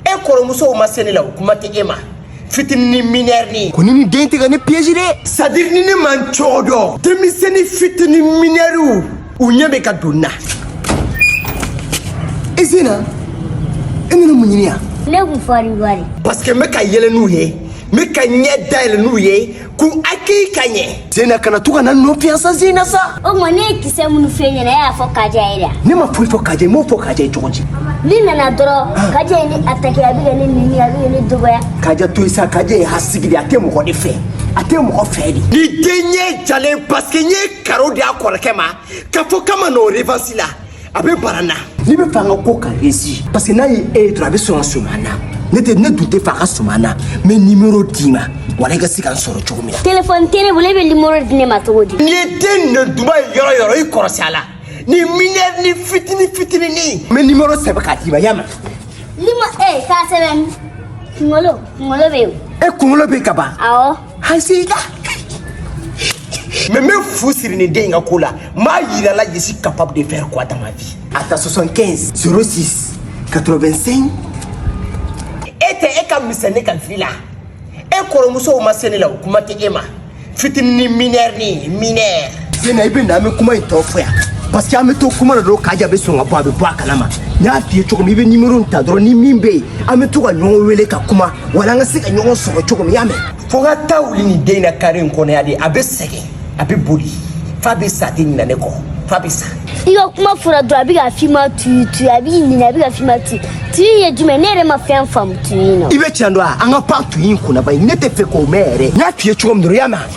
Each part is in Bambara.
e kɔrɔmusow ma se ne la o kuma tɛ e ma fitininin minɛrinin ko nin den tɛ ka ne piège dɛ c'est-à-dire ni ne ma n cogo dɔn denmisɛnnin fitini minɛriw u ɲɛ bɛ ka don n na i e sina i e nana mun ɲini yan ne kun fɔri wari parce que n bɛ ka yɛlɛ n'u ye n bɛ ka ɲɛ dayɛlɛ n'u ye k'u hakili ka ɲɛ zena kana to ka na nɔ fiyansa zena sa o tuma ne ye kisɛ minnu fɔ i ɲɛna e y'a fɔ kaja ye da ne ma foyi fɔ kaja ye m'o fɔ kaja ye cogo di ne nana dɔrɔn kaja ye ne atake a bɛ ka ne neni a bɛ ka ne dɔgɔya kaja to yen sa kaja ye hasidi de a tɛ mɔgɔ de fɛ a tɛ mɔgɔ fɛ dɛ nin den ɲɛ jalen paseke n ye karo di a kɔrɔkɛ ma k'a fɔ k'a ma n'o revansi la a bɛ bara na n'i b'a fɛ an ka ko ka resi parce que n'a ye e ye dɔrɔn a bɛ sɔn ka sɔmi an na ne tɛ ne dun t'a fɛ a ka sɔmi an na n bɛ nimero d'i ma wala i ka se ka n sɔrɔ cogo min na telefɔni tɛ ne bolo e bɛ nimero di ne ma cogo di n'i ye den nɛ duba ye yɔrɔ yɔrɔ i kɔrɔsi a la nin minɛrinin fitini fitininin n bɛ nimero sɛbɛn k'a d'i ma y'a mɛn nimo e k'a sɛbɛn kunkolo kunkolo bɛ yen e kunkolo bɛ ka ban awɔ An se la mɛ n bɛ fu siri nin den in ka ko la n b'a yira la je suis capable de faire quoi dans ma vie a ta 75 06 85 e tɛ e ka misɛn ne ka vi la e kɔrɔmusow ma se ne la o kuma tɛ e ma fitinin minɛrinin minɛr Zena i bɛ na an bɛ kuma in tɔ fɔ yan parce que an bɛ to kuma dɔrɔn kaja bɛ sɔn ka bɔ a bɛ bɔ a kalama n y'a f'i ye cogo min i bɛ nimoro in ta dɔrɔn ni min bɛ yen an bɛ to ka ɲɔgɔn wele ka kuma wala an ka se ka ɲɔgɔn sɔrɔ cogo min i y'a mɛn. fo ka taa wuli nin den in na kare in kɔnɔ yan de a bɛ sɛgɛn a bɛ boli f'a bɛ sa a tɛ ɲinɛ ne kɔ f'a bɛ sa. i ka kuma fɔra dɔrɔn a bɛ k'a f'i ma tuyi tuyi a b'i ɲinɛ a bɛ k'a f'i ma tuyi tuyi ye jumɛn ne yɛrɛ ma fɛn faamu tuyi in na. i bɛ tiɲɛ dɔn wa an ka pan tuyi in kunna bari ne t'a fɛ k'o mɛn yɛrɛ n y'a f'i ye cogo min dɔrɔn i y'a mɛn.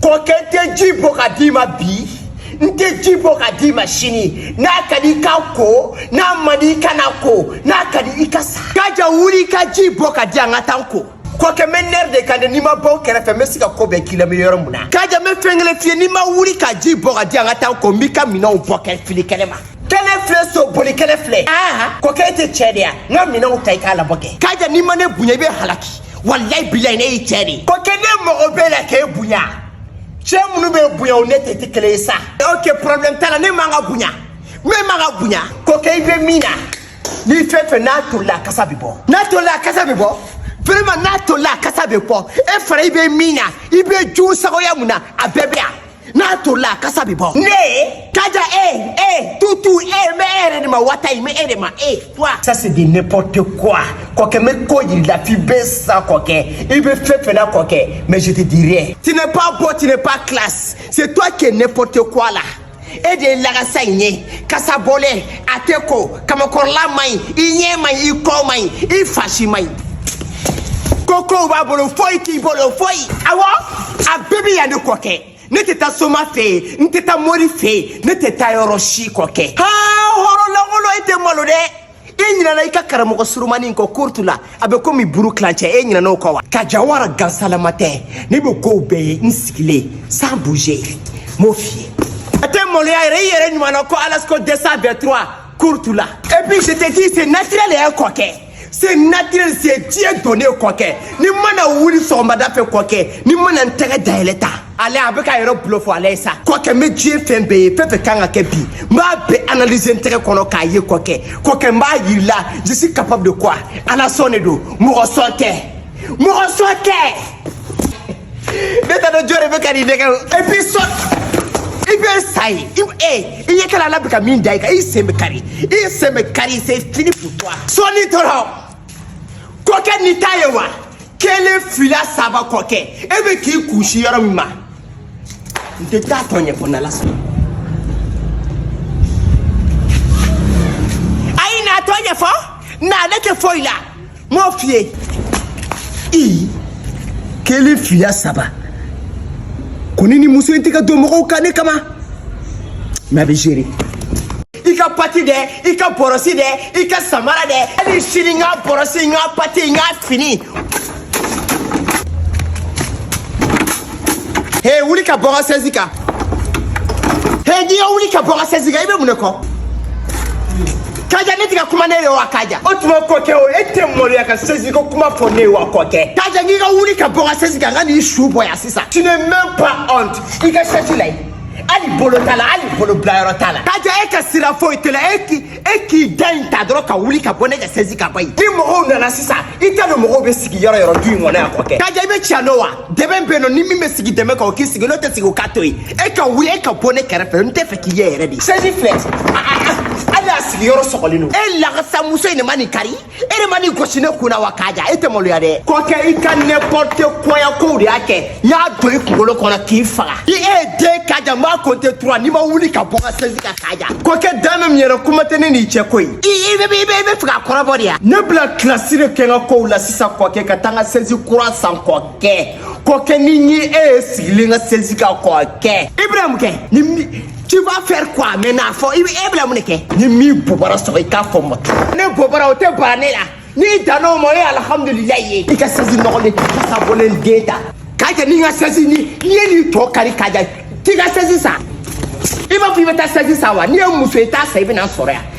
kɔkɛ n tɛ ji bɔ k'a d'i ma bi n tɛ ji bɔ k'a d'i ma sini n'a ka di i ka ko n'a man di i kana ko n'a ka di i ka sa kaja wuli i ka ji bɔ k'a di yan n ka taa n ko kɔkɛ n bɛ nɛri de kan dɛ n'i ma bɔ n kɛrɛfɛ n bɛ se ka ko bɛɛ k'i la n bɛ yɔrɔ min na kaja n bɛ fɛn kelen f'i ye n'i ma wuli ka ji bɔ k'a di yan n ka taa n ko n b'i ka minɛnw bɔ k'a fili kɛnɛma kɛnɛ filɛ so boli kɛnɛ filɛ kɔkɛ e tɛ cɛ de ye wa n ka minɛnw ta i k'a labɔ kɛ kaja n'i ma ne bonya i bɛ halaki walayi bilayi ne y'i cɛ de ye kɔkɛ ne mako b'e la k'e bonya cɛ minnu bɛ bonya o n'e de tɛ kelen ye sa ok problème t'a la ne man ka bonya ne man ka bonya kɔkɛ i bɛ min na nin fɛn fɛn n'a tolila a kasa bɛ bɔ n'a tolila a kasa bɛ bɔ vraiment n'a tolila a kasa bɛ bɔ e fana i bɛ min na i bɛ jugusagoya min na a bɛɛ bɛ yan n'a tolila a kasa bɛ bɔ ne kaja e e tutu e mɛ e yɛrɛ de ma wata ye mɛ e de ma e toi ça c'est du n'importe quoi kɔkɛ n bɛ ko jir'i la f'i bɛ sa kɔkɛ i bɛ fɛn fɛn na kɔkɛ mais je te dirai tu n'es pas beau tu n'es pas classe c'est toi qui es n'importe quoi là e de ye lagasa in ye kasa bɔlen a tɛ ko kamankɔrɔla man ɲi i ɲɛ man ɲi i kɔ man ɲi i fasi man ɲi ko kow b'a bolo foyi t'i bolo foyi awɔ a bɛɛ bɛ yan de kɔkɛ ne tɛ taa soma fɛ yen n tɛ taa mori fɛ yen ne tɛ taa yɔrɔ si kɔkɛ haa hɔrɔn lankolon e tɛ malo dɛ i ɲinɛna i ka karamɔgɔ surumani in kɔ kurtu la a bɛ komi buru tilancɛ e ɲinɛna o kɔ wa ka jawara gansalama tɛ ne bɛ kow bɛɛ ye n sigilen sans bouger n b'o f'i ye a tɛ maloya yɛrɛ i yɛrɛ ɲuman na ko alasko dɛsɛ bɛɛ tura kurtu la et puis je te dis c'est naturel yɛrɛ kɔkɛ c'est naturel c'est dieu donné kɔkɛ ne mana wuli sɔgɔmada fɛ kɔkɛ ne mana n tɛgɛ dayɛlɛ tan ale a bɛ ka yɛrɛ bulo fɔ ale ye sa kɔkɛ n bɛ diɲɛ fɛn bɛɛ ye fɛn fɛn kan ka kɛ bi n b'a bɛɛ analyser n tɛgɛ kɔnɔ k'a ye kɔkɛ kɔkɛ n b'a yira i la je suis capable de quoi ala sɔn de don mɔgɔ sɔn tɛ mɔgɔ sɔn tɛ ne t'a dɔn jɔn de bɛ ka nin nɛgɛ et puis sɔn i bɛ sa ye i e i ye kɛla ala bɛ ka min da i kan i sen bɛ kari i sen bɛ kari c'est fini pour toi sɔnni dɔrɔn kɔkɛ ni ta ye wa kelen fila saba kɔkɛ e bɛ k'i kun sin yɔrɔ min ma n tɛ t'a tɔ ɲɛfɔ n'ala sɔnna a ye n'a tɔ ɲɛfɔ na ale tɛ foyi la n m'o f'i ye i kelen fila saba kɔni ni muso in tɛ ka don mɔgɔw kan ne kama mais a bɛ gérer i ka pati dɛ i ka bɔrɔsi dɛ i ka samara dɛ hali sini n ka bɔrɔsi n ka pati n ka fini he wuli ka bɔ n ka sɛzi kan he n k'i ka wuli ka bɔ n ka sɛzi kan i bɛ mun de kɔ kaja ne tɛ ka kuma ne ye wa kaja o tuma kɔkɛ o e tɛ maloya ka sɛzi ko kuma fɔ ne ye wa kɔkɛ kaja n k'i ka wuli ka bɔ n ka sɛzi kan n kan'i su bɔ yan sisan tu n'as même pas honte i ka sɛzi la yen hali bolo t'a la hali bolo bilayɔrɔ t'a la kaja e ka sira foyi t'a la e k'i e k'i da in ta dɔrɔn ka wuli ka bɔ ne ka sɛzi kan bɔ yen ni mɔgɔw nana sisan i t'a dɔn mɔgɔw bɛ sigi yɔrɔ yɔrɔ du in kɔnɔ yan kɔkɛ kaja i bɛ tiɲɛ dɔn wa dɛbɛn bɛ yen non ni min bɛ sigi dɛbɛn kan o k'i sigi n'o tɛ sigi o k'a to yen e ka wuli e ka bɔ ne kɛrɛfɛ n t'a fɛ k'i ye yɛrɛ bi sɛzi filɛ hali a sigiyɔrɔ sɔgɔlen don e lakasamuso in de ma nin kari e de ma nin gosi ne kun na wa kaja e tɛ maloya dɛ kɔkɛ i ka n'importe quoi ya kow de y'a kɛ n y'a don i kunkolo kɔnɔ k'i faga i e ye den kaja n b'a compter trois n'i ma wuli ka bɔ n ka sɛsi kan kaja kɔkɛ dan bɛ min yɛrɛ kuma tɛ ne n'i cɛ ko ye i i bɛ i bɛ i bɛ fɛ ka kɔrɔbɔ de ya ne bɛna kilasi de kɛ n ka kow la sisan kɔkɛ ka taa n ka sɛsi kura san kɔkɛ kɔkɛ ni n ye e ye sigilen n ka sɛsi kan kɔkɛ ibrahim kɛ ni tu vas faire quoi maintenant fɔ i bɛ e bila mun de kɛ ni min bobara sɔgɔ i k'a fɔ n ma tugun ne bobara o tɛ bara ne la n'i danna o ma o ye alihamudulilayi ye i ka sɛsi nɔgɔlen kasa bɔlen de ta k'a kɛ ni n ka sɛsi ni n'i ye nin tɔ kari k'a ja k'i ka sɛsi san i b'a fɔ i bɛ taa sɛsi san wa n'i ye muso ye i t'a san i bɛ na n sɔrɔ yan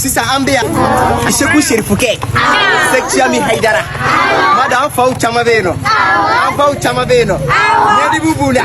sisan an bɛ yan segu serifukɛ sɛkiyami hayidara mada an faw caman bɛ yen nɔ an faw caman bɛ yen nɔ ɲɛdibu b'u la